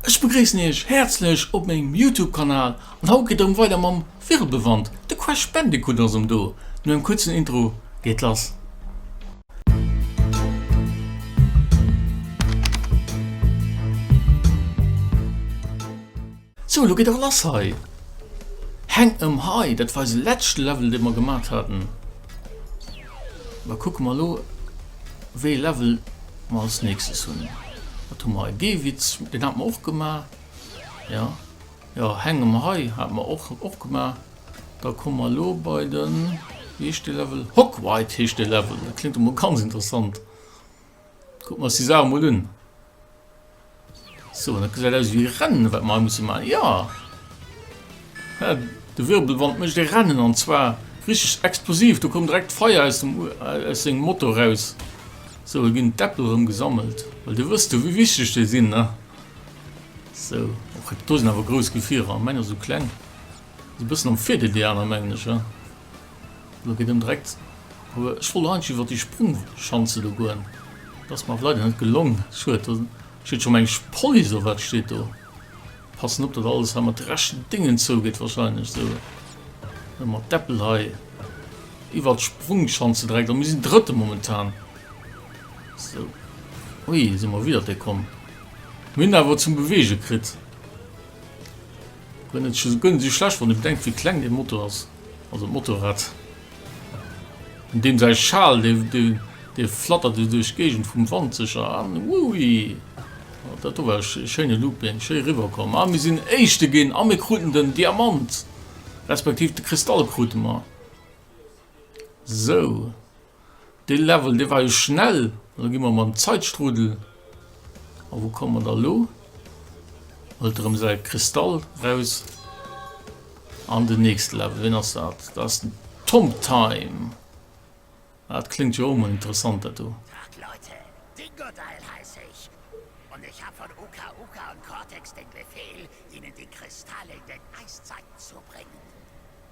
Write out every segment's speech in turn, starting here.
Ech begréissen Iech häerzlech op mengem Youtube Kanal an haut geet et erëm weider mam Virelbewand, de Crash Bandicoot ass erëm do, no engem kuerzen Intro geet et lass. Sou elo geet et lass hei, hänk em hei, dat war eise lätschte Level dee mer gemat haten, da kucke mer elo wéi e Level. Ma als nächstes hunn, wat hu mer hei, dee Witz, deen hate mer och gemaach, jo, jo, hänge mer hei, hate mer och, och gemaach. Da komme mer elo bei de, wéi heescht dee Level, Hochwhite heescht dee Level, dat kléngt emol ganz interessant, kucke mer eis déi Saache mol un. So, dat gesäit aus ewéi Rennen, wat mer hei musse maachen. Jo! Hä, de Wirbelwand mécht e Rennen, an zwar richteg explosiv. Do koum direkt Feier aus dem, aus sengem Motor eraus. So, do ginn d'Äppel erëm gesammelt, well do wëss du, wéi wichteg déi sinn, ne? So, och do sinn awer grouss Gefierer. Mäin ass esou kleng. Ass e bëssen am Virdeel, déi aner, mengen ech, ja. Lo geet en direkt ower. Ech wollt eigentlech iwwert déi Sprungschanze do goen, dat ass mer awer leider net gelong. Schued. Do steet scho mengesch Police. Oh, wat steet do? Passen op, datt alles hei mat rechten Déngen zougeet wahrscheinlech. Sou, elo mat d'Äppel hei iwwert d'Sprungschanze direkt. A mir sinn Drëtte momentan. Sou, ui, si mer widder déi komm. Mir hunn awer zum Beweege kritt. Hunn et scho guer net esou schlecht, wann ee bedenkt wéi kleng dee Motor ass, also d'Motorrad. An deem säi Schal, dee flattert esou duerch d'Géigend vum Wand sécher an. Uui, dat do war e schéine Looping, schéi eriwwerkomm. A mir sinn Éischte ginn a mir kruten den Diamant, respektiv de Kristall krute mer. Sou, Dee Level, dee war jo schnell. An da gi mer mam Zeitstrudel. A wou komme mer da elo? Holt erëm säi Kristall raus. An den nächste Level, ween ass dat? Dat ass den Tom Time. Dat kléngt jo och emol interessant, dat do. Tag Leute, Dingodile heiss ech, an ech hat vun Uka Uka an Cortex den Befehl, hinnen déi Kristalle den Eiszeit zu bréngen.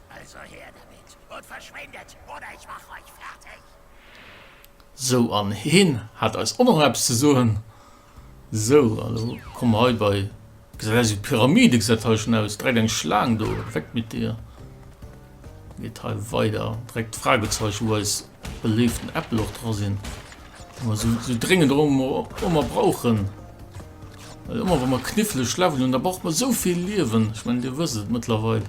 Also her damit und verschwindet oder ich mach euch fertig! Sou, an heen hat eis och nach eppes ze soen. Sou, an elo komme mer hei bei, gesäit aus wéi Pyramide, gesäit hei schon aus, direkt eng Schlaang do, weg mit dir. Geet hei weider, direkt d'Fragezeichen, wou eis beléiften Äppel och dra sinn, déi mer sou, sou dréngend och ëmmer, och ëmmer brauchen, well ëmmer wa mer knifflech leveln hunn, da brauche mer sou vill Liewen, ech mengen, dir wësst et mëttlerweil.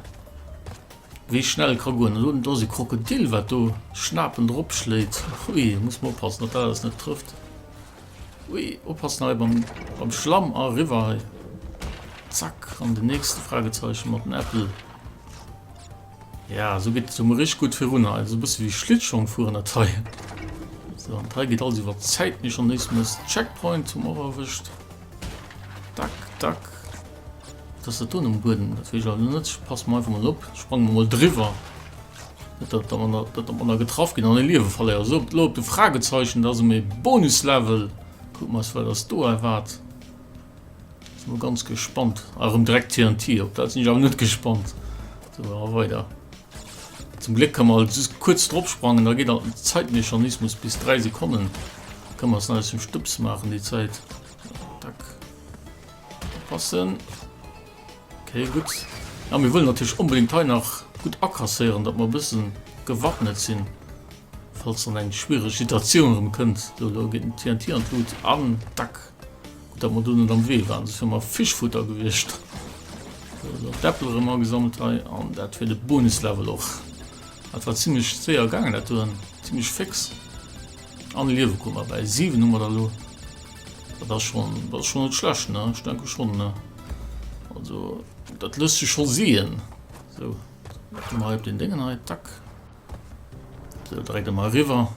Wéi schnell ka goen? Elo do ass e Krokodil wat do schnapend erop schléit. Hui muss mer oppassen dat dat alles net trëfft. Hui oppassen hei beim, beim Schlamm arriwwer hei. Zack an den nächste Fragezeichen mat den Äppel. Ja so gëtt so mir rich gut virun hei so bësse wéi Schlittschong fueren dat hei. So an hei gëtt alles iwwer Zäit méi schon nees mes Checkpoint hu mer och erwëscht. Dack dack. D'Tastaturen um Buedem, dat weess ech alt nach net. Ech passe mer einfach mol op, sprange mer mol driwwer, net datt der manner, datt der manner getraff ginn an e Liewe verléiert. Esou, op, elo op de Fragezeichen, dat ass e méi Bonuslevel. Kucke mer eis wat eis do erwaart. Sinn mol ganz gespannt. A erëm direkt TNT, op dat sinn ech awer net gespannt. Sou, a weider. Zum Gléck ka mer alt just kuerz drop sprangen, da geet alt en Zeitmechanismus bis 3 Sekonnen. Ka mer eis nach eis en Stëbs maachen déi Zäit. Passen. Okay, gutt. A mir wëllen natierlech onbedéngt hei nach gutt akasséieren, datt mer e bësse gewappnet sinn, falls dann eng schwiereg Situatioun erëm kënnt. Do elo geet den TNT an d'Lut. An dack! Gutt, datt mer do net am Wee waren, soss wäre mer Fischfutter gewiescht. Sou, elo d'Äppel erëm agesammelt hei. An dat fir de Bonuslevel och. Dat war zimmlech séier gaangen, dat doen. Zimmlech féx. An Liewe krutt mer bäi. 7 hu mer der elo. Dat ass schonn, dat ass schonn net schlecht, ne? Ech denke schonn, ne? Also, dat lësst sech scho sien. So, dat ginn mer hei op den Déngen hei, tack. So, dréit de mer riwwer.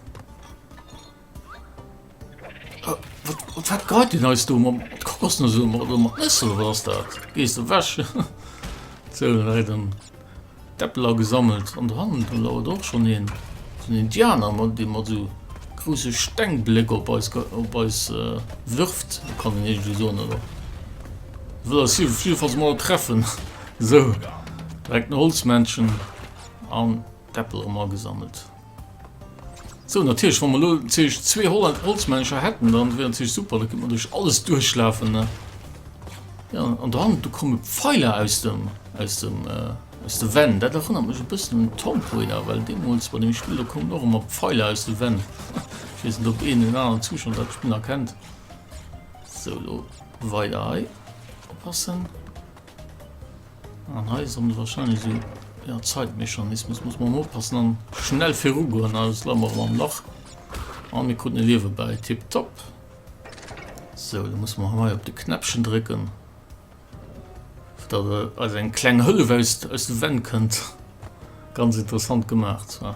Ah, wat, wat, wat greit den eis do? Mam, wat kockers du so? Mam, do mat Nëssel, wat ass dat? Gees du wäsch? so, dréit den, D'Äppeler gesammelt an dohannen do lauert och schon een sou en Indianer mat dee mat sou grousse Steng Bléck op eis op eis wirft kann een eegentlech soen oder wëll eis jiddefalls mol treffen sou direkt en Holzmännchen an d'Äppel erëm agesammelt. Sou, natierlech, wa mer elo natierlech zwee Holland Holzmännercher hätten, dann wier natierlech super, da kënnt mer duerch alles duerchlafen, ne? Ja, an dran, do komme Pfeiler aus dem, aus dem, äh, aus de Wänn. Dat erënnert mech e bëssen un Tomb Raider, well deemools bei deem Spill, do koumen och ëmmer Pfeiler aus de Wänn. Ech weess net, ob een oder aneren Zuschauer dat Spill nach kennt. Sou, elo weider hei. Oppassen. An hei soll wahrscheinlich so ja, Zeitmechanismus muss man oppassen an schnell viru goen alles la mor am Lach an mir kunden liewe bei tipp top so da muss man hei op de Knäppchen drücken dat äh, als eng kleng Hëllef aus, aus de Wenn kënnt ganz interessant gemacht war.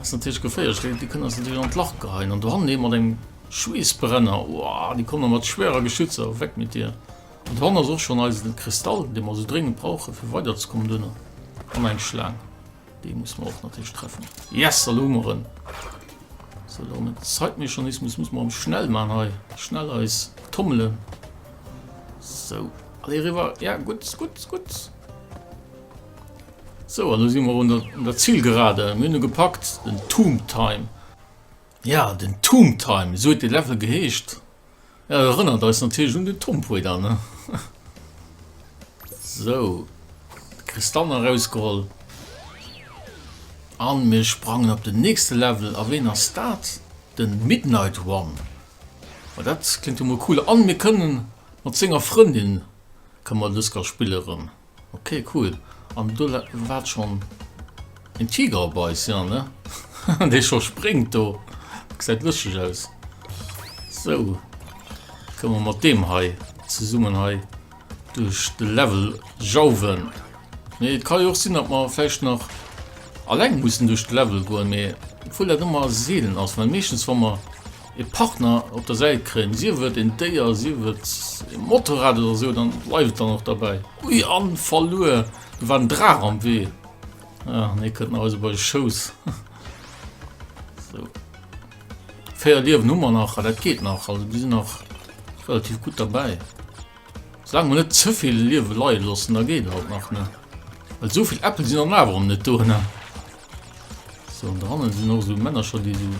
Ass natierlech geféierlech, well déi kënnen eis natierlech an d'Lach geheien. An dohannen ee mat engem Schweessbrenner, uah, déi komme mat schwerer Geschützer, weg mit dir. An dohannen ass och schonn eisen Kristall, dee mer esou dréngend brauchen, fir weiderzekommen duerno. An eng Schlaang, déi musse mer och natierlech treffen. Yes, elo hu mer en! Sou, elo hu mer Zeitmechanismus, muss mer erëm schnell maachen hei, schnell eis tommelen. Sou, allez eriwwer, ja, gutt, gutt, gutt. Sou, an elo si mer un der Zilgerade. Mir hunn e gepackt, den Tomb Time. Jo, den Tomb Time, esou huet dee Level geheescht. Jo, dat erënnert eis natierlech un den Tomb Raider, ne? Sou, de Kristallen erausgeholl. A mir sprangen op den nächste Level. A ween ass dat? Den Midnight One. Ma dat kléngt jo mol cool. A mir kënnen mat senger Frëndin, kënne mer Dësker spille rëm. Ok cool, an do waart schon een Tiger op eis, jo ne? Haha dee schon spréngt do, gesäit lëschteg aus. Sou, kënne mer mat deem hei zesummen hei duerch de Level jauwen. Mee et kann jo och sinn dat mer vläicht nach alleng mussen duerch de Level goen, mee obwuel dat ëmmer seelen ass, well meeschtens wa mer. ee Partner op der Säit kréien, sief et een Déier, sief et ee Motorrad oder esou, dann bleift et dann och derbäi. Ui, an verluer! Do war en Draach am Wee! Ach nee, kënnt nach eis op eise Schouss. Sou. Véier Liewen hu mer nach, dat geet nach, also mir sinn nach relativ gutt derbäi. Soulaang mer net ze vill Liewe leie loossen, da geet et alt nach, ne? Well esou vill Äppel sinn an awer erëm net do, ne? Sou, an dohannen sinn och esou Männercher, déi esou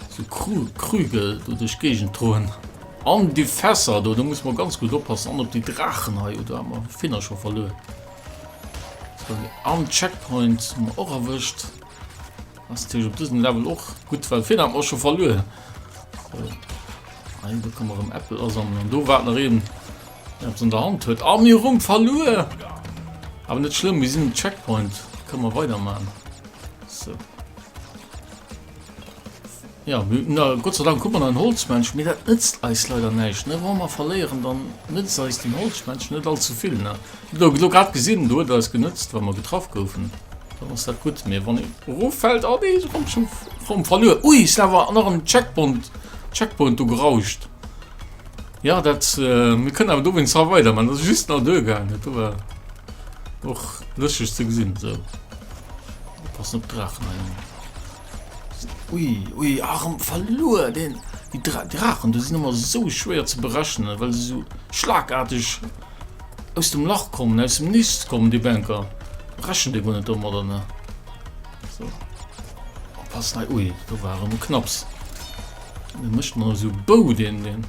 esou Kru, Krüge do duerch d'Géigend droen. An déi Fässer do, do musse mer ganz gutt oppassen. An op déi Draachen hei, oh, do hat mer e Finner scho verluer. Sou, an Checkpoint hu mer och erwëscht. Ass natierlech op dësem Level och gutt, well virhin hat mer scho verluer. Ein do kann man rëm Äppel asammeln an do waart nach een der eppes an der Hand huet. A mir rum verluer! Awer net schlëmm, mir sinn um Checkpoint. Kënne mer weidermachen. So. Jo, mir hunn Gott sei Dank hu mer nach en Holzmännchen, mee dat nëtzt eis leider näischt, ne? Wa mer verléieren, dann nëtzt eis den Holzmännchen net all ze vill, ne? Elo grad gesinn, do huet et eis genëtzt, wa mer getraff goufen, dann ass dat gutt, mee wann een eroffält, oh nee, se kommt schonn fro um verluer, ui, sinn awer nach an den Checkpont, Checkpoint do gerauscht. Jo, dat, mir kënnen awer dowéinst hei weidermaachen, dat ass just nach duergaangen, do war och lëschteg ze gesinn, sou, oppassen op d'Drachen hei. Ui, ui, arm verluer den. Die Dra Drachen, du sind immer so schwer zu berechnen, weil sie so schlagartig aus dem Lach kommen, aus dem Nist kommen, die Banker. Brechen die gar nicht um, oder ne? So. Oh, pass nein, ui, da war immer knapps. Dann mischt man so Bau den, den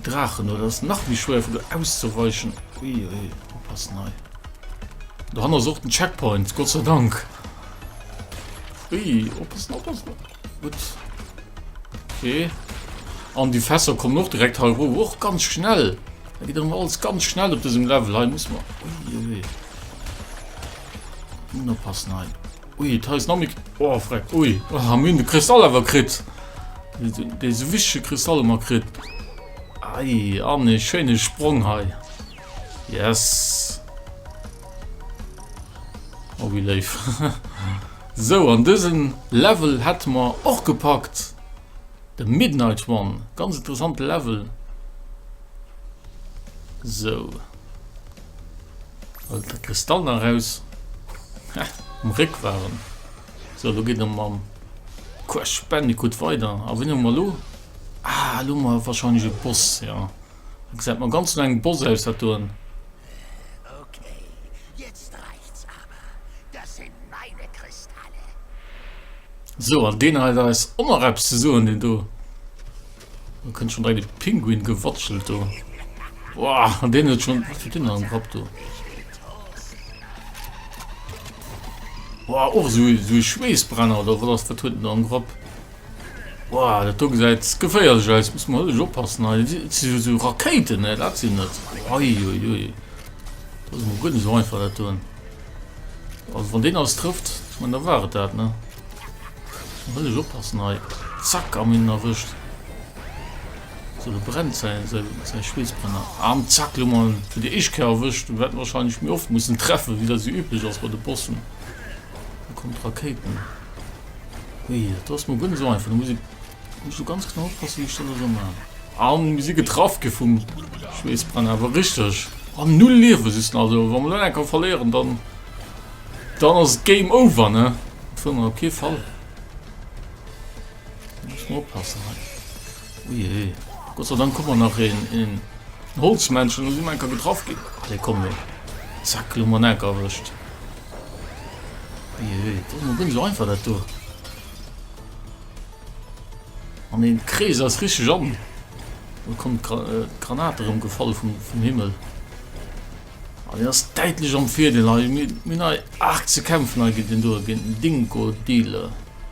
Drachen, oder das nach wie schwer für auszuweichen. Ui, ui, pass nein. Da haben wir auch den Checkpoint, Gott sei Dank. Ui, oppassen, oppassen. Gut. Okay. An die Fässer kommen noch direkt halb hoch. Och ganz schnell. Da geht immer alles ganz schnell auf diesem Level. Hier muss man... Ui, ui. Nun oppassen, nein. Ui, da ist noch mit... Oh, freck. Ui. Oh, haben wir den Kristall aber kriegt. Diese wichtige Kristall immer kriegt. Ei, an den schönen Sprung hier. Yes! Oh wéi léif! Sou an dësen Level hätte mer och gepackt de Midnight One, ganz interessante Level. Sou Hol de Kristall nach raus. Ha, um Réck waren. Sou lo geet en mam Crash Bandicoot weider. A wéini hu mer lo? Ah, lo hu mer wahrscheinlech e Boss, ja. Gesäit mer ganz no engem Boss aus dat doen. Okay, jetzt reicht's awer, das sin meine Kristalle. Sou, an deen hei da weess och nach eppes ze soen, deen do. Do kënnt schon direkt e Pinguin gewatschelt do. Woah, an deen huet schon, was huet deen an am Grapp do? Woah, och sou, sou e Schweessbrenner oder wat ass, wat huet deen do am Grapp? Wow, dat do gesäit geféierlech aus. Muss mer ech oppassen hei. Et si jo sou Rakéiten, ne? Dat sinn et. Uiuiui. Dat ass emol guer net sou einfach dat doen. Also wann deen eis trëfft, ich mein, da war et dat, ne? Muss mer ech oppassen hei. Zack, am hin erwëscht. So, de brennt säi, säi, säi Schweessbrenner. Am zack, lo mer fir déi éischt Kéier erwëscht. Wäert mer wahrscheinlech méi oft mussen treffen, wéi dat sou üblech ass bei de Bossen. Do kommen d'Rakéiten. Ui, dat ass mol guer net esou einfach. Da muss ee muss do ganz genau oppassen, wéi ech dann esou man. Ah, mir si getraff gi vum Schweessbrand, awer richteg. Ah, null Liewe sissen, also wa mer lo enker verléieren, dann dann ass et Game Over, ne? Dat wëll mer op kee Fall. Da muss mer oppassen hei. Ujee, Gott sei Dank koum mer nach een Holzmännchen, elo si mer enker getraff ginn. Allez, komm lo! Zack, elo hu mer en enker erwëscht. Ujee, dat ass emol guer net esou einfach, dat do. An dee Krees ass richteg an. Elo kommen d'Granate erëm gefall vum Himmel. An deen ass däitlech am Virdeel hei. Mir hunn hei aarg ze kämpfen hei géint deen do, géint den Dingo-Dealer.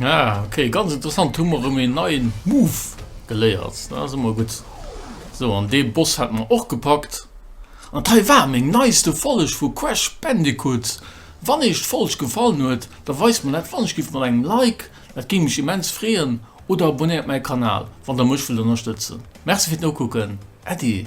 Ah, okay, ganz interessant. Hu mer um en neien Move geléiert. Da si mer gutt. So, an dee Boss hat mer och gepackt. An d'hei war meng neiste Folleg vu Crash Bandicoot. Wann Eech d'Folg gefallen huet, da weist mer dat wannech giff mat engem Like. Dat géing mech immens freeën. Oder abonéiert mäi Kanal, wann Der mech wëllt ënnerstëtzen. Merci fir d'Nokucken. Äddi!